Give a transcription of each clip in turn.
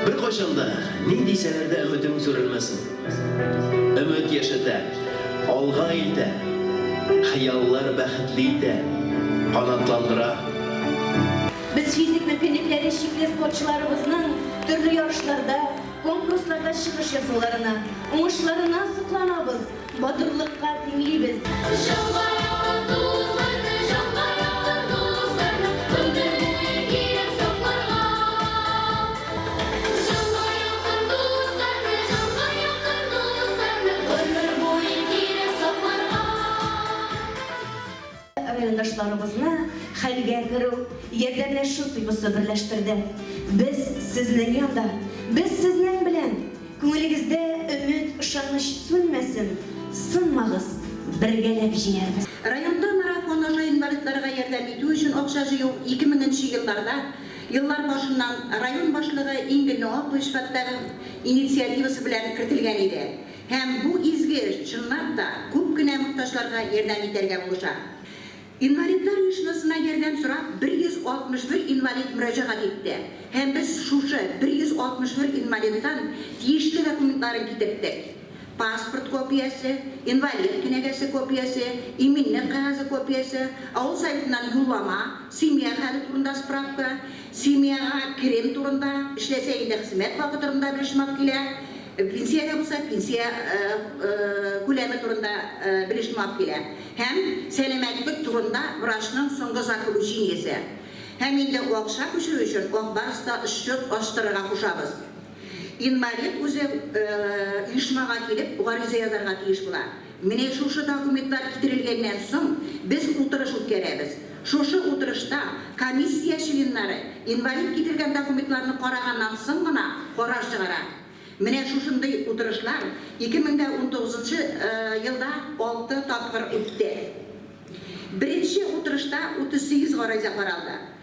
Бер кайчан да, ни дисәләр дә, өметең сүрелмәсен. Өмет яшәтә, алга илтә, хыяллар бәхетле итә, канатландыра. Без физик мөмкинлекләре чикле спортчыларыбызның төрле ярышларда, конкурсларда чыгыш ясауларына, уңышларына сокланабыз, батырлыкка тиңлибез. Җанга якын дусларны, җанга якын дусларны гомер буе кирәк сакларга. Райондашларыбызны хәлгә керү, ярдәмләшү тойгысы берләштерде. Без сезнең янда, без сезнең белән! Күңелегездә өмет, ышаныч сүнмәсен, сынмагыз, бергәләп җиңәрбез! Районда марафон аша инвалидларга ярдәм итү өчен акча җыю 2000 нче елларда Еллар башыннан район башлыгы Ингель Ноаповичпаттагын инициативасы белән кертелгән иде һәм бу изге эш чынлап та күп кенә мохтаҗларга ярдәм итәргә булыша. Инвалидлар оешмасына ярдәм сорап 161 инвалид мөрәҗәгать итте һәм без шушы 161 инвалидтан тиешле документларын китерттек. паспорт копиясе, инвалид кенәгәсе копиясе, иминлек кәгазе копиясе, авыл советыннан юллама, семья хәле турында справка, семьяга керем турында, эшләсә инде хезмәт хакы турында белешмак килә, пенсиядә булса, пенсия күләме турында белешмак килә һәм сәламәтлек турында врачның соңгы заключениесе. Һәм инде акча күчерү өчен ак барста счет ачтырырга кушабыз. Инвалид үзе оешмага килеп гариза язарга тиеш була. Менә шушы документлар китерелгәннән соң без утырыш үткәрәбез. Шушы утырышта комиссия членнары инвалид китергән документларны караганнан соң гына карар чыгара. Менә шушындый утырышлар 2019 нчы елда алты тапкыр үтте. Беренче утырышта 38 гариза каралды.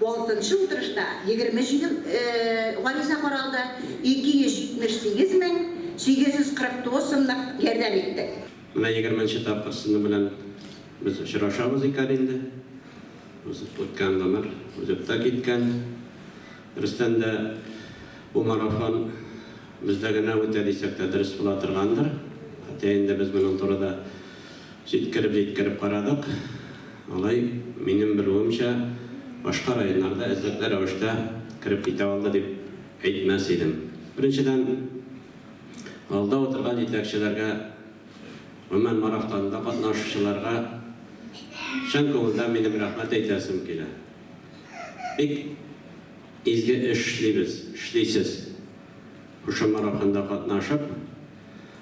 Алтынчы утырышта 27 гариза каралды, 278 мең 849 сумлык ярдәм иттек. Менә егерменче тапкыр сезнең белән без очрашабыз икән инде. Узып үткән гомер узып та киткән. Дөрестән дә, бу марафон бездә генә үтә дисәк тә дөрес була торгандыр. Хотя инде без моның турыда Җиткереп-җиткереп карадык. Алай, минем белүемчә, башка районнарда эзлекле рәвештә кереп китә алды дип әйтмәс идем. Беренчедән, алда утырган җитәкчеләргә, гомумән, марафтонда катнашучыларга чын күңелдән минем рәхмәт әйтәсем килә. Бик изге эш эшлибез, эшлисез. Шушы марафонда катнашып,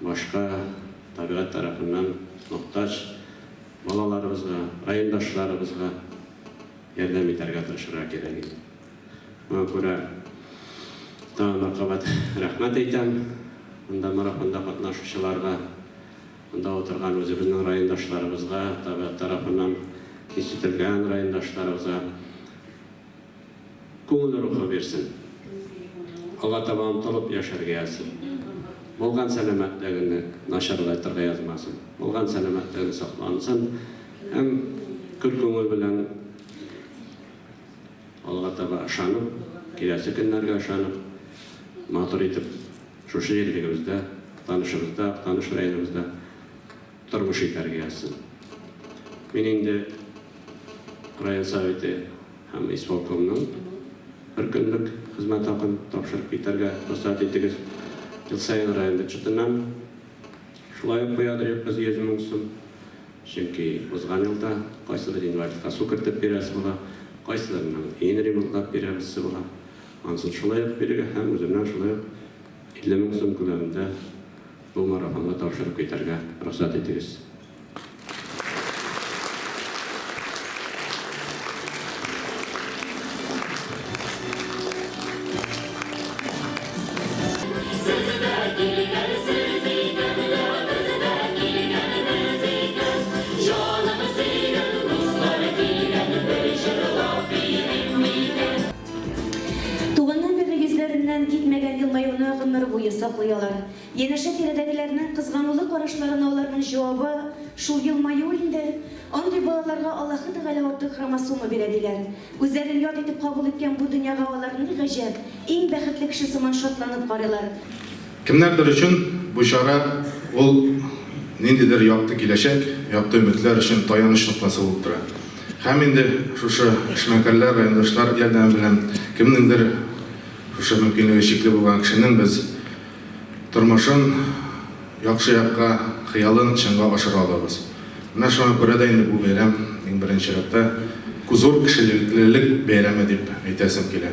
башка табигать тарафыннан мохтаҗ балаларыбызга, райондашларыбызга ярдәм итәргә тырышырга кирәк иде. Моңа күрә тагын бер кабат рәхмәт әйтәм монда марафонда катнашучыларга, монда утырган үзебезнең райондашларыбызга, табигать тарафыннан кичетелгән райондашларыбызга. Күңел рухы бирсен. Алга таба омтылып яшәргә язсын. Булган сәламәтлегеңне начарлайтырга язмасын. Булган сәламәтлегең саклансын һәм көр күңел белән алга таба ышанып, киләсе көннәргә ышанып, матур итеп шушы җирлегебездә, Актанышыбызда, Актаныш районыбызда тормыш итәргә язсын. Мин инде район Советы Һәм исполкомның бер көнлек хезмәт хакын тапшырып китәргә рөхсәт итегез. Ел саен район бюджетыннан шулай ук куя торыйбыз 100 мең сум. Чөнки узган елда кайсыдыр инвалидка су кертеп бирәсе була, кайсыларының өен ремонтлап бирәбезсе була. Ансын шулай ук бирергә һәм үземнән шулай ук 50 мең сум күләмендә бу марафонга тапшырып китәргә рөхсәт итегез. Туганнар берлек йөзләреннән китмәгән елмаюны гомер буе саклый алар. Янәшә тирәдәгеләрнең кызганулы карашларына аларның җавабы шул елмаюы инде, андый балаларга Аллаһы Тәгалә артык хромосома бирә, диләр. Үзләрен ят итеп кабул иткән бу дөньяга алар ни гаҗәп, иң бәхетле кеше сыман шатланып карыйлар. Кемнәрдер өчен бу чара ул ниндидер якты киләчәк, якты өметләр өчен таяныч ноктасы булып тора. Һәм инде шушы эшмәкәрләр, райондашлар ярдәме белән кемнеңдер, шушы мөмкинлеге чикле булган кешенең без, Тормышын яхшы якка, хыялын чынга ашыра алабыз. Менә шуңа күрә дә инде бу бәйрәм, иң беренче чиратта, зур кешелелек бәйрәме дип әйтәсем килә.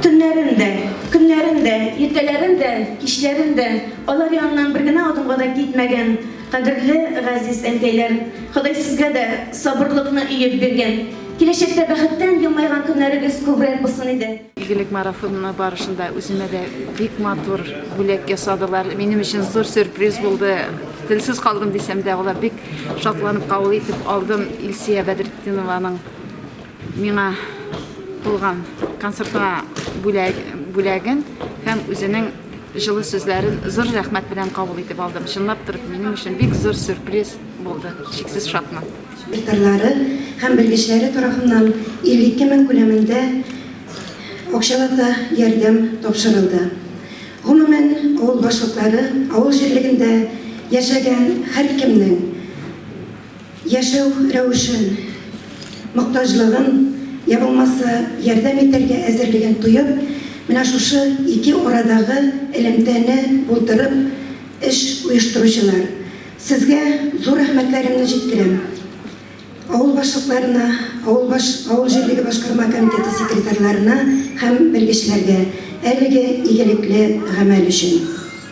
Төннәрен дә, көннәрен дә, иртәләрен дә, кичләрен дә алар яныннан бер генә адымга да китмәгән кадерле газиз әнкәйләр, Ходай сезгә дә сабырлыкны өеп биргән, киләчәктә бәхеттән елмайган көннәрегез күбрәк булсын иде. Игелек марафоны барышында үземә дә бик матур бүләк ясадылар. Минем өчен зур сюрприз булды. Телсез калдым дисәм дә, алар бик шатланып кабул итеп алдым Илсөя Бәдретдинованың Миңа булган концертка бүләген һәм үзенең җылы сүзләрен зур рәхмәт белән кабул итеп алдым. Чынлап торып, минем өчен бик зур сюрприз булды. Чиксез шатмын. Ветерлары һәм белгечләре тарафыннан 52 мең күләмендә акчалата ярдәм тапшырылды. Гомумән, авыл башлыклары авыл җирлегендә яшәгән һәркемнең, яшәү рәвешен, мохтаҗлыгын, йә булмаса ярдәм итәргә әзерлеген тоеп, менә шушы ике арадагы элемтәне булдырып эш оештыручылар, сезгә зур рәхмәтләремне җиткерәм. Авыл башлыкларына, авыл баш, авыл җирлеге башкарма комитеты секретарьларына һәм белгечләргә әлеге игелекле гамәл өчен.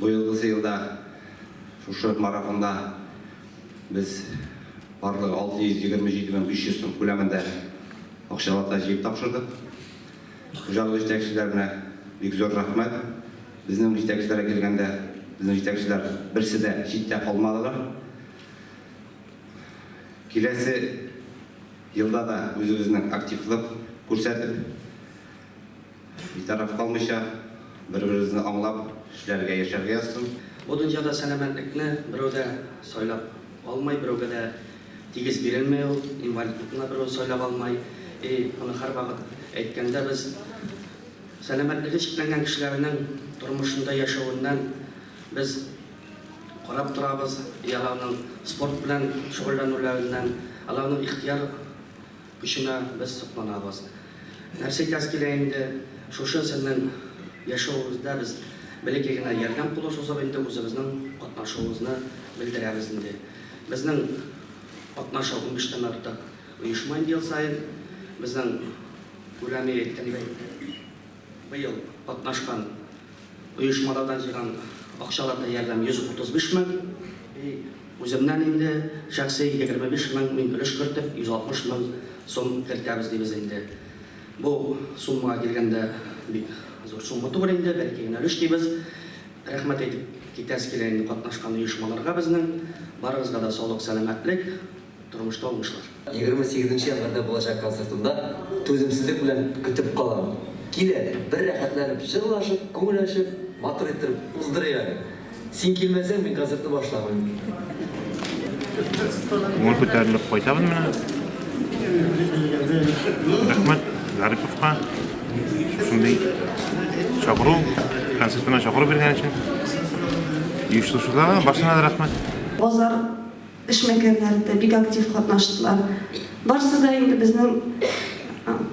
Быелгысы елда шушы марафонда без барлыгы 627 мең 500 сум күләмендә акчалата җыеп тапшырдык. Хуҗалык җитәкчеләренә бик зур рәхмәт. Безнең җитәкчеләргә килгәндә, безнең җитәкчеләр берсе дә читтә калмадылар. Киләсе елда да үзебезнең активлык күрсәтеп, Битараф калмыйча, бер-беребезне аңлап, эшләргә, яшәргә язсын. Бу дөньяда сәламәтлекне берәү дә сайлап алмый, берәүгә дә тигез бирелми ул, инвалидлыкны да берәү сайлап алмый. И моны һәрвакыт әйткәндә без сәламәтлеге чикләнгән кешеләрнең тормышында яшәвеннән без карап торабыз, и аларның спорт белән шөгыльләнүләреннән, аларның ихтыяр Көченә без сокланабыз. Нәрсә әйтәс килә инде, шушы сезнең яшәвегездә без бәләкәй генә ярдәм кулы сузып инде үзебезнең катнашуыбызны белдерәбез инде. Безнең катнаша унбиштән артык оешма инде ел саен. Безнең күләме әйткәндәй. Быел катнашкан оешмалардан җыйган акчаларда ярдәм 135 мең, үземнән инде шәхси 25 мең, мин өлеш кертеп 160 мең сум кертәбез дибез инде. Бу суммага килгәндә бик зур сумма түгел инде, бәлки генә өлеш дибез. Рәхмәт әйтеп китәсе килә инде катнашкан оешмаларга безнең, барыгызга да саулык, сәламәтлек. Тормышта уңышлар. Егерме сигезенче январьда булачак концертымда түземсезлек белән көтеп калам. Кил әле, бер рәхәтләнеп җырлашып, күңел ачып, матур иттереп уздырыйк әле. Син килмәсәң, мин концертны башламыйм. Күңел күтәрелеп кайтабыз менә. Рәхмәт Гариповка шундый чакыру, концертына чакыру биргән өчен. Оештыручыларга барсына да рәхмәт. Базар. Эшмәкәрләре дә бик актив катнаштылар. Барысы да инде безнең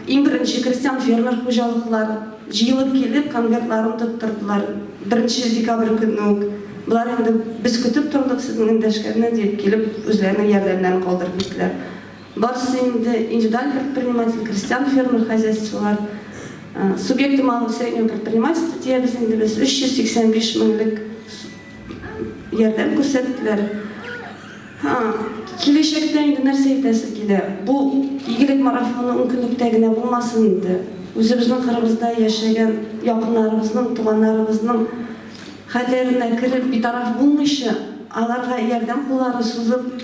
иң беренче крестьян-фермер хуҗалыклар җыелып килеп, конвертларын тоттырдылар. Беренче декабрь көнне үк болар инде без көтеп тордык сезнең эндәшкәнне дип килеп, үзләренең ярдәмнәрен калдырып киттеләр. Барысы инде индивидуаль предприниматель, крестьян-фермер хозяйстволар, субъекты малого и среднего предпринимательства диябез инде без, 385 меңлек Ярдәм күрсәттеләр. Киләчәктә инде нәрсә әйтәсең килә? Бу игелек марафоны ун көнлектә генә булмасын инде. Үзебезнең кырыбызда яшәгән якыннарыбызның, туганнарыбызның хәлләренә кереп, битараф булмыйча, аларга ярдәм куллары сузып,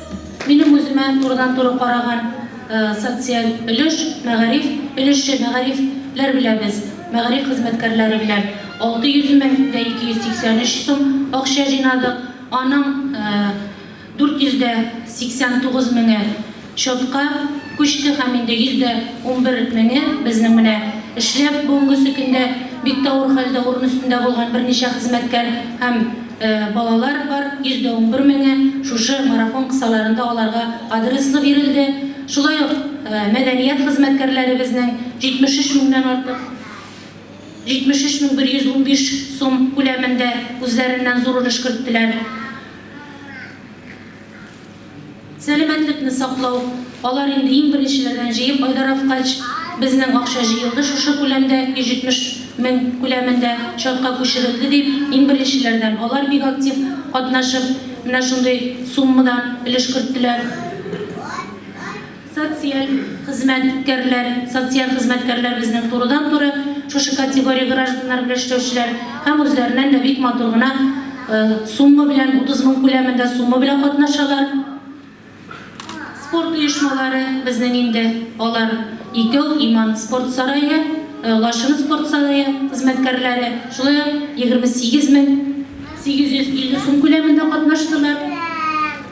Минем үземә турыдан-туры караган социаль өлеш, мәгариф өлеше. Мәгариф ләр беләбез, мәгариф хезмәткәрләре белән 600 мең дә 283 сум акча җыйнадык. Аның 489 меңе счетка күчте һәм инде 111 меңе безнең менә эшләп бүгенгесе көндә бик тә авыр хәлдә урын өстендә булган берничә хезмәткәр һәм Балалар бар, еш да унбер меңе шушы марафон кысаларында аларга адреслы бирелде. Шулай ук мәдәният хезмәткәрләребезнең 73 меңнән артык, 73115 сум күләмендә үзләреннән зур өлеш керттеләр. Сәламәтлекне саклау, алар инде иң беренчеләрдән җыеп айдараткач, безнең акча җыелды шушы күләмдә, 170 мең күләмендә чатка күчерелде дип, иң беренчеләрдән алар бик актив катнашып, менә шундый суммадан өлеш керттеләр. Социаль хезмәткәрләр, социаль хезмәткәрләр безнең турыдан-туры шушы категория гражданнары белән эшләүчеләр һәм үзләреннән дә бик матур гына сумма белән, 30 мең күләмендә сумма белән катнашалар. Спорт оешмалары безнең инде алар икәү, Иман спорт сарае, Лачын спорт сарае хезмәткәрләре, шулай ук 28 мең 850 сум күләмендә катнаштылар.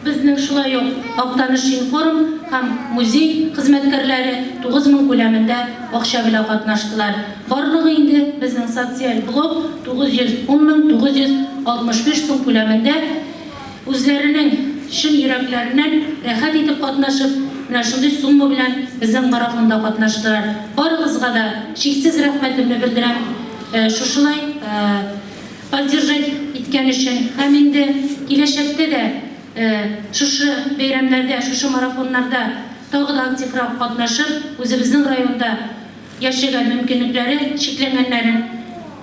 Безнең шулай ук Актаныш информ һәм музей хезмәткәрләре 9 мең күләмендә акча белән катнаштылар. Барлыгы инде безнең социаль блок 910 мең 965 сум күләмендә үзләренең чын йөрәкләреннән рәхәт итеп катнашып, менә шундый сумма белән безнең марафонда катнаштылар. Барыгызга да чиксез рәхмәтемне белдерәм, шушылай Поддержать иткән өчен һәм инде киләчәктә дә шушы бәйрәмнәрдә, шушы марафоннарда тагы да активрак катнашып, үзебезнең районда яшәгән мөмкинлекләре чикләнгәннәрен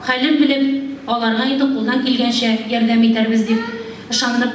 хәлен белеп, аларга инде кулдан килгәнчә ярдәм итәрбез дип ышанып,